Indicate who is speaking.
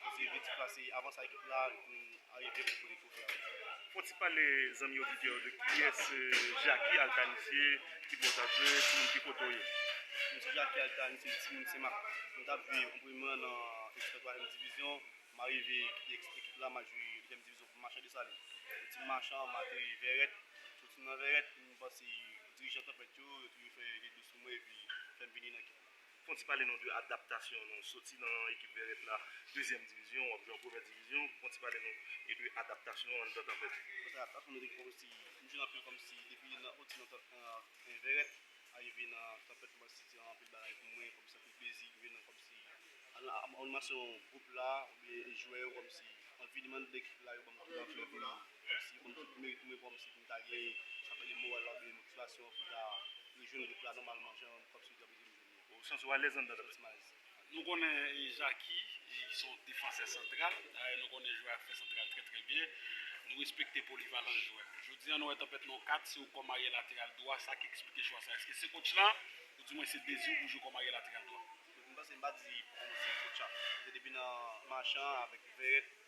Speaker 1: Mesye Ritz plase avan sa ekip la arive pou pote twofe a. Fon ti pale
Speaker 2: zanmi oditè yo de kiyès Jacky Altanise, ki bò w tap jwe, ti moun ki kote w ye? Mwen se Jacky
Speaker 1: Altanise, ti moun Senmak. Mwen tap jwe an premye an nan ekip nan twazyèm divizyon, m arive kite ekip la m al jwe dezyèm divizyon pou Machan Desalin. Mwen soti Machan, m ateri Vèrèt, soti nan Vèrèt m panse dirijan Tanpèt yo, yo toujou fè de dlo sou mwen epi fè m vini nan ekip la. Fon ti pale nou de
Speaker 2: adaptasyon nou soti nan ekip vèrèt la dezyèm divizyon wap jwe an premyè divizyon fon ti pale nou e de adaptasyon an dan tanpèt. Adaptasyon nou te gen kòmsi
Speaker 1: nou jwe nan anpil kòmsi depi nan yon ti nan vèrèt arive nan tanpèt kòmsi se anpil bagay pou mwen kòmsi anpil plezi rive nan kòmsi animasyon gwoup la oubyen jwè yo kòmsi anvi li mande ekip la yo banm tout nan klèb la kòmsi pou mwen pou mwen kòmsi poum ta gen sa rele moral la oubyen motivasyon pou ta rejwenn gwoup la nòmalman jan kòmsi.
Speaker 2: Nou konnen
Speaker 3: Jacky se yon defansè santral, dayè nou konnen jwe ak fè santral trè trè byen, nou respekte polivalans jwè a. Jodi an nou wè Tanpèt nan yon 4, se yon kòm aryè lateral dwa, sa ki eksplike chwa sa a? Eske se kotch la ou di mwen se dezi w pou w jwe kòm aryè lateral dwa? M panse m pa di
Speaker 1: se kotch la, se depi nan Marchand avèk Verrett